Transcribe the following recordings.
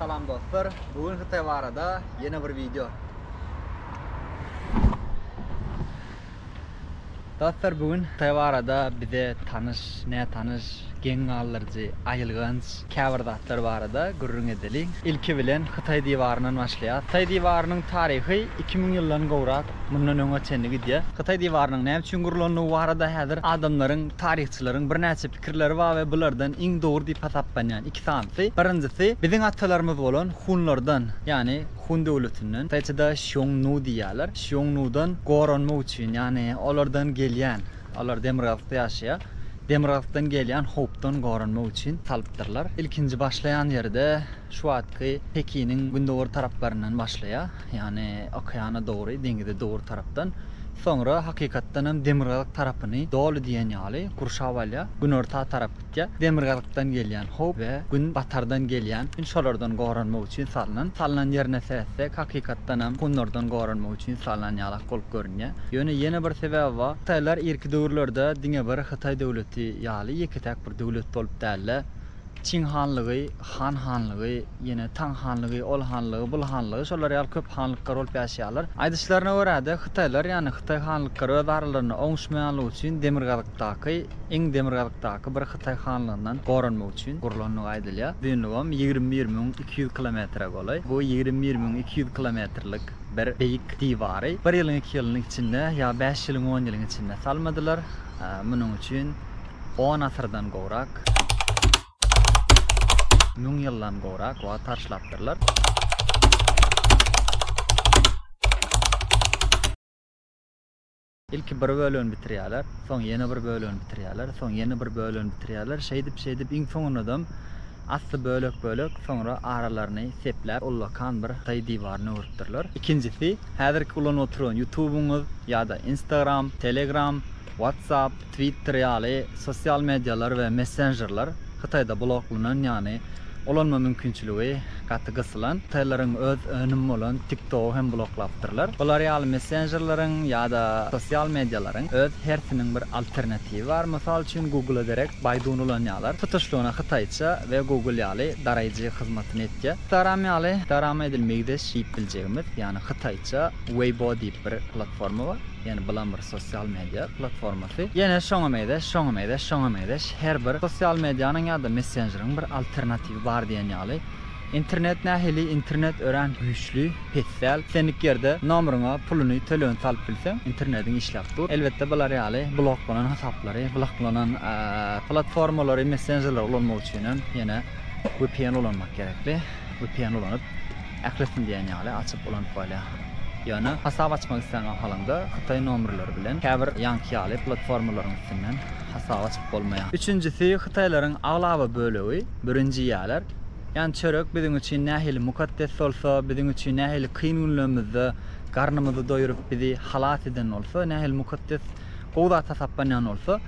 Salam dostlar, bu gün Hytaý barada ýene bir wideo. Dostlar, bu gün Hytaý barada bize tanyş, nätanyş, geň galdyryjy, aýylganç käbir zatlar barada gürrüň edeliň. Ilki bilen Hytaý diwaryndan başlaýas. Hytaý diwarynyň taryhy iki müň ýyldan gowrak mundan öňe çenli gidýär. Hytaý diwarynyň näme üçin gurlandygy barada häzir adamlaryň, taryhçylaryň birnäçe Pikirleri bar we bulardan iň dogry diýip hasaplanýan iki sanysy, birinjisi, biziň atalarymyz bolan hunlardan, ýagny hun döwletinden, taýçada Şiong Nu diýýärler, Şiong Nudan goranmak üçin, ýagny olardan gelýän, olar demirgazykda ýaşaýar, demirgazykdan gelýän howpdan goranmak üçin salypdyrlar. Ilkinji başlaýan ýeri-de. Şu wagtky Pekiniň gündogar taraplaryndan başlaýar, ýagny okeana dogry, deňize dogry tarapdan. Soňra hakykatdanam demirgazyk tarapyny doly diýen ýaly gurşap alýar, günorta tarap gitýär. Demirgazykdan gelýän howp we gün batardan gelýän gün şolardan goranmak üçin salnan. Salnan ýerine seretsek, hakykatdanam hunlardan goranmak üçin salnan ýalak bolup görünýär. Ýöne ýene bir sebäbi bar. Hytaýlar irki döwürlerde diňe bir Hytaý döwleti ýaly ýeke-täk bir döwlet bolup däl-de, Çiň hanlygy, Han hanlygy, ýene Taň hanlygy, Ol hanlygy, Bul hanlygy, şolar ýaly köp hanlyklar bolup ýaşaýarlar. Aýdyşlaryna görä-de, hytaýlar, ýagny hytaý hanlyklary öz aralarynda oňuşmaýanlygy üçin demirgazykdaky, iň demirgazykdaky bir hytaý hanlygyndan goranmak üçin gurlandygy aýdylýar. Uzynlygam ýigrimi bir müň iki ýüz kilometre golaý. Bu ýigrimi bir müň iki ýüz kilometrlik bir beýik diwary bir ýylyň iki ýylyň içinde ýa bäş ýylyň on ýylyň içinde salmadylar. Munuň üçin. On asyrdan gowrak, müň ýyldan gowrak wagt harçlapdyrlar. Ilki bir bölegini bitirýärler, soň ýene bir bölegini bitirýärler, soň ýene bir bölegini bitirýärler. Şeýdip, şeýdip iň soňundam asly bölek-bölek, soňra aralaryny sepläp, ullakan bir Hytaý diwaryny öwrüpdirler. Ikinjisi, häzirki ulanyp oturan Ýutubyňyz ýa-da Instagram, Telegram, WhatsApp, Twitter ýaly sosial medialar we messenjerler Hytaýda bloklanan, ýagny ulanma mümkinçiligi gaty gysylan. Hytaýlylaryň öz önümi bolan TikTok-y hem bloklapdyrlar. Bular ýaly messenjerleriň ýa-da sosial medialaryň öz hersiniň bir alternatiwi bar. Mysal üçin, Google-a derek Baidu-ny ulanýarlar. Tutuşlygyna hytaýça we Google ýaly daraýjy hyzmatyny etýär. Instagram ýaly, Instagrama edil meýzeş diýip biljegimiz, ýagny hytaýça Weibo diýip bir platforma bar. Ýani bulam bir sosial media platformasy. Ýene şoňa meýzeş, şoňa meýzeş, şoňa meýzeş her bir sosial medianyň ýa-da messenjeriň bir alternatiwi bar diýen ýaly. Internet nähili? Internet örän güýçli, pes däl. Islendik ýerde nomeriňe puluny, tölegini salyp bilseň, internetiň işläp dur. Elbetde bular ýaly bloklanan hasaplary, bloklanan platformalary, messenjerleri ulanmak üçin hem ýene vpn ulanmak gerekli. Vpn ulanyp. Ählisini diýen ýaly açyp ulanyp bolýar. Ýöne hasap açmak islän mahalyňda hytaý nomerleri bilen käbir ýaňky ýaly platformalaryň üstünden hasap açyp bolmaýar. Üçünjisi hytaýlaryň aglaba bölegi birinji iýýärler. Ýani çörek biziň üçin nähili mukaddes bolsa, biziň üçin nähili kyn günlerimizde garnymyzy doýuryp bizi halas eden bolsa, nähili mukaddes gowy zat hasaplanýan bolsa,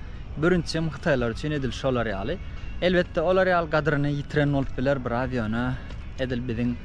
birinjisem hytaýlar üçin edil şolar ýaly. Elbetde olar ýaly gadyryny ýitiren bolup biler biraz ýöne. Edil biziň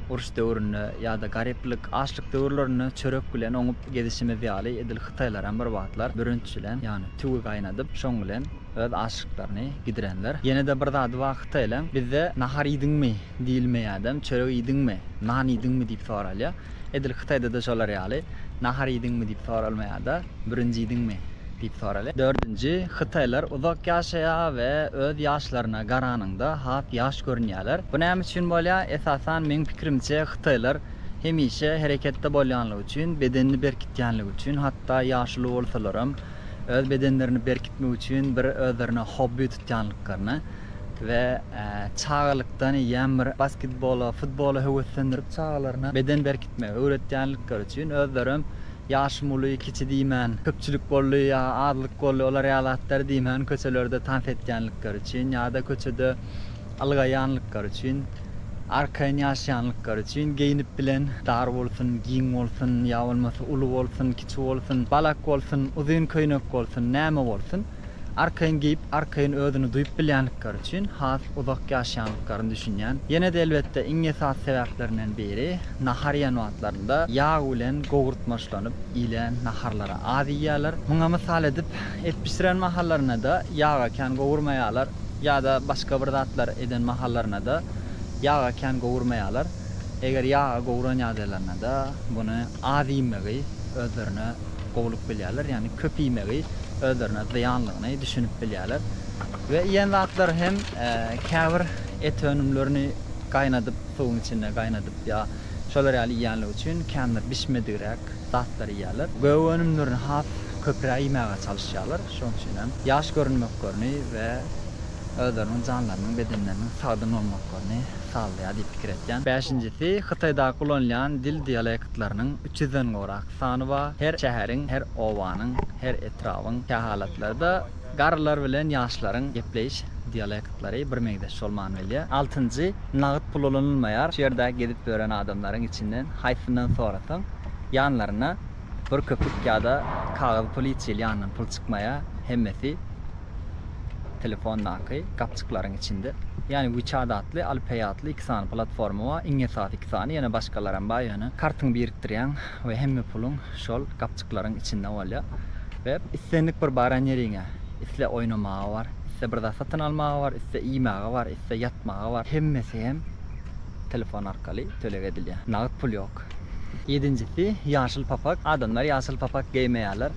uruş döwründe ýa-da garyplyk, açlyk döwürlerinde çörek bilen oňup gezişimiz ýaly, edil hytaýlaram bir wagtlar bürünç bilen, ýagny tüwi gaýnadyp, şoň bilen öz açlyklaryny gidirenler. Ýene-de bir zady bar hytaýlaň, bizde nahar iýdiňmi? diýilmeýärdem, çörek iýdiňmi? Nan iýdiňmi? diýip soralýar. Edil hytaýda-da şolar ýaly, nahar iýdiňmi? diýip soralmaýar-da. Birinjidiňmi? diýip soraly. Dördünji, Hytaýlar uzak ýaşaýar we öz ýaşlaryna garanyňda has ýaş görünýärler. Bu näme üçin bolýar? Esasan, meň pikirimçe, hytaýlar hemişe hereketde bolýanlygy üçin, bedenini berkitýänligi üçin, hatda ýaşuly bolsalaram, öz bedenlerini berkitmek üçin bir özlerine hobbi tutýanlyklaryna we çagalykdan eýýäm bir basketbola, futbola höweslendirip çagalaryna beden berkitmegi öwretýänlikleri üçin özlerem Ýaşym uly, kiçi diýmän, köpçülik boldy ýa azlyk boldy, olar ýaly zatlary diýmän, köçelerde tans etýänlikleri üçin ýa-da köçede ylgaýanlyklary üçin, arkaýyn ýaşaýanlyklary üçin geýnip bilen, dar bolsun, giň bolsun, ýa bolmasa uly bolsun, kiçi bolsun, balak bolsun, uzyn köýnek bolsun, näme bolsun, Arkaýyn geýip, arkaýyn özüni duýup bilýänlikleri üçin has uzak ýaşaýanlyklaryny düşünýän. Ýene-de elbetde iň esasy sebäplerinden biri, nahar iýen wagtlarynda ýag bilen gowurtmaçlanyp iýlen naharlary az iýýärler. Muňa mysal edip, et bişiren mahallaryna-da ýaga kän gowurmaýarlar ýa-da başga bir zatlar eden mahallaryna-da ýaga kän gowurmaýarlar. Eger ýaga gowuran ýagdaýlarynda-da muny az iýmegi özlerine gowulyk bilýärler, ýagny köp iýmegi özlerine zyýanlygyny düşünip bilýärler we iýen zatlary hem käbir et önümlerini gaýnadyp, suwuň içinde gaýnadyp ýa şolar ýaly iýenligi üçin känbir bişmedigräk zatlary iýýärler. Gök önümlerini has köpräk iýmäge çalyşýarlar, şonuň üçin hem ýaş görünmeklerini we özleriniň janlarynyň bedenleriniň sagdyn bolmaklaryny sazlaýar diýip pikir etýän. Bäşinjisi, Hytaýdaky ulanylýan dil dialektleriniň üç ýüzden gowrak sany bar. Her şäheriň, her obanyň, her etrabyň kähalatlarda garrylar bilen ýaşlaryň gepleýiş dialektlary birmeňzeş bolman bilýär. Altynjy, nagyt pul ulanylmaýar. Şu ýerde gezip ýören adamlaryň içinden haýsyndan sorasaň, ýanlaryna bir köpük ýa-da kagyz pul hiç hili ýanyndan pul çykmaýar. Hemmesi. Telefondaky gapjyklaryň içinde, ýany WeChat atly alpbeý atly iki sany platforma bar, iň esasy iki sany, ýene başgalaram bar, ýöne kartyňy birikdirýäň we hemme puluň şol gapjyklaryň içinde bolýar we islendik bir baran ýeriňe, isle oýnamaga bar, isle bir zat satyn almaga bar, isle iýmäge bar, isle ýatmaga bar, hemmesi hem telefon arkaly töleg edilýär, nagt pul ýok. Ýedinjisi, ýaşyl papak. Adamlar ýaşyl papak geýmeýärler.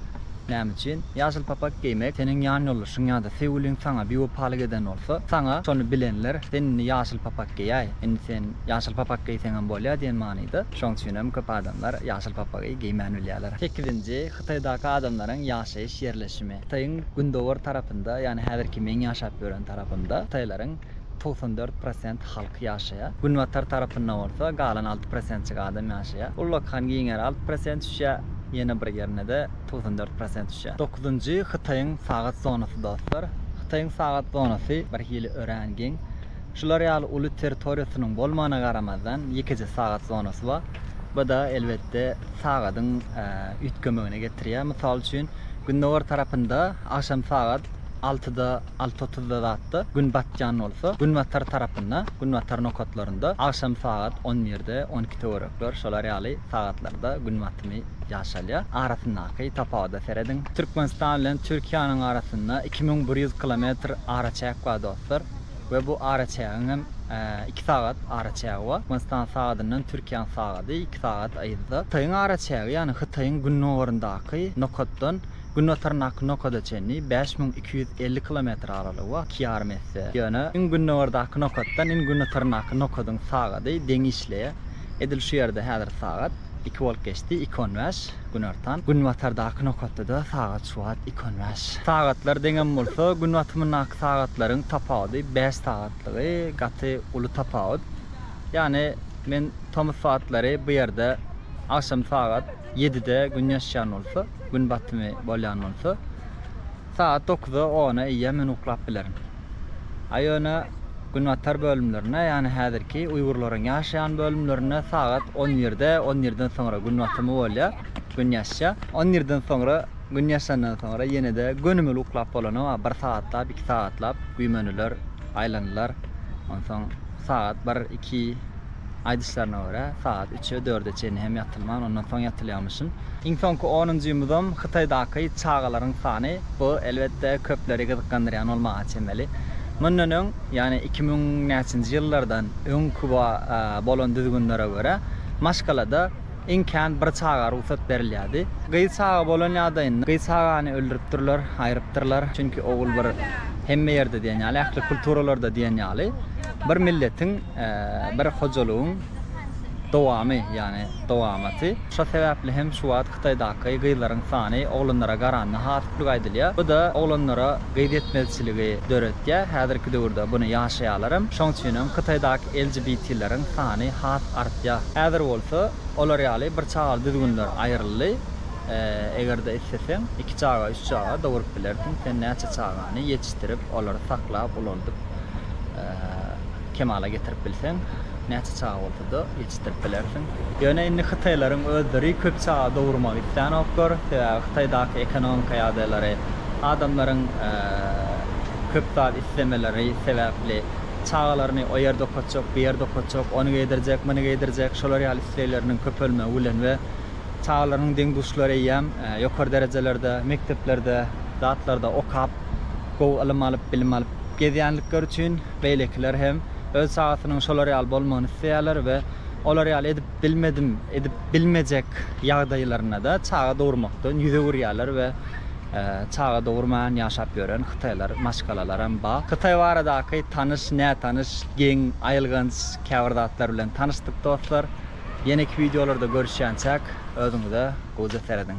Näme üçin? Ýaşyl papak geýmek, seniň ýanýoldaşyň ýa-da söýgüliň saňa biwepalyk eden bolsa, saňa şony bilenler, sen indi ýaşyl papak geýäý, indi sen ýaşyl papak geýseňem bolýar diýen manyda. Şoň üçinem köp adamlar ýaşyl papagy geýmän bilýärler. Sekizinji, Hytaýdaky adamlaryň ýaşaýyş ýerleşimi. Hytaýyň gündogar tarapynda, ýagny häzirki meň ýaşap ýören tarapymda hytaýlaryň togsan dört prosent halk ýaşaýar. Günbatar tarapynda bolsa galan alty prosentik adam ýaşaýar. Ullakan giňär alty prosent düşýär, ýene bir ýerine-de togsan dört prosent düşýär. Dokuzynjy Hytaýyň sagat zonasy dostlar. Hytaýyň sagat zonasy birhili örän giň. Şular ýaly uly territoriýasynyň bolmagyna garamazdan, ýekeje sagat zonasy bar. Bu-da elbetde sagadyň üýtgemegine getirýär. Mysal üçin, gündogar tarapynda agşam sagat altyda alty otuzda zatda Gün batýan bolsa, günbatar tarapynda, günbatar nokatlarynda, agşam sagat on birde, on iki töwerekler, şolar ýaly sagatlarda Gün batymy ýaşalýar. Arasyndaky tapawuda serediň. Türkmenistan bilen Türkiýäniň arasynda iki müň bir ýüz kilometr araçäk bar dostlar we bu araçägiň hem iki sagat araçägi bar. Türkmenistan sagadyndan Türkiýäniň sagady iki sagat yzda. Hytaýyň araçägi, ýagny Hytaýyň gündogaryndaky nokatdan Günbataryndaky nokada çenli bäş müň iki ýüz elli kilometr aralygy we iki ýarym esse, ýöne iň gündogardaky nokatdan iň günbataryndaky nokadyň sagady deň işleýär. Edil şu ýerde häzir sagat iki bolup geçdi, iki on bäş, günortan. Günbatardaky nokatda-da sagat şu wagt iki on bäş. Sagatlar deňem bolsa, gün batymyndaky sagatlaryň tapawudy bäş sagatlygy, gaty uly tapawut. Ýagny men tomus wagtlary bu ýerde agşam sagat. Ýedide gün ýaşýan bolsa, gün batymy bolýan bolsa, sagat dokuza, ona eýýäm men uklap bilerin. A ýöne günbatar bölümlerinde, ýagny häzirki uýgurlaryň ýaşaýan bölümlerinde sagat on birde, on birden soňra gün batymy bolýar, gün ýaşýar. On birden soňra gün ýaşandan soňra ýene-de gönümel uklap bolanok, a bir sagatlap, iki sagatlap güýmeniler, aýlanylar. Onsoň sagat bir, iki. Aýdyşlaryna görä, sagat üçe, dörde çenli hem ýatylman, ondan soň ýatylýarmyşyn. Iň soňky onunjy ýumudam Hytaýdaky çagalaryň sany. Bu, elbetde, köpleri gyzyklandyrýan bolmaga çemeli. Mundan öň, ýagny iki müň näçenji ýyllardan öň Kuba bolan düzgünlere görä, maşgalada iň kän bir çaga rugsat berilýärdi. Gyz çaga bolan ýagdaýynda, gyz çagany öldüripdirler, aýrypdyrlar. Çünki ogul bir hemme ýerde diýen ýaly, ähli kulturalarda diýen ýaly, bir milletiň Bir hojalygyň dowamy, ýagny dowamaty. Şo sebäpli hem şu wagt Hytaýdaky gyzlaryň sany oglanlara garanda has köp aýdylýar. Bu-da oglanlara gyz ýetmezçiligi döretýär. Häzirki döwürde buny ýaşaýarlaram. Şoň üçinem Hytaýdaky LGBT-leriň sany has artýar. Häzir bolsa olar ýaly bir çagaly düzgünler aýryldy. Eger-de isleseň, iki çaga, üç çaga doguryp bilersiň. Sen näçe çagany ýetişdirip, olary saklap, ulaldyp. kemala getirip bilseň, näçe çaga bolsa-da ýetişdirip bilersiň. Ýöne indi hytaýlaryň özleri köp çaga dogurmagy islänoklar, sebäbi Hytaýdaky ekonomika ýagdaýlary, adamlaryň köp zat islemeleri sebäpli çagalaryny o ýerde okatjak, bu ýerde okatjak, ony geýdirjek, muny geýdirjek, şolar ýaly islegleriniň köpelmegi bilen we Çagalaryň deň-duşlary eýýäm ýokary derejelerde, mekdeplerde, zatlarda okap, gowy ylym alyp, bilim alyp gezýänlikleri üçin beýlekiler hem öz çagasynyň şolar ýaly bolmagyny isleýärler we olar ýaly edip bilmedim, edip bilmejek ýagdaýlarynda-da çaga dogurmakdan ýüz öwürýärler we çaga dogurman ýaşap ýören hytaýlar, maşgalalaram bar. Hytaý baradaky tanyş, nätanyş, geň, aýylganç käbir zatlar bilen tanyşdyk dostlar. Ýeneki wideolarda görüşýänçäk özüňize goja serediň.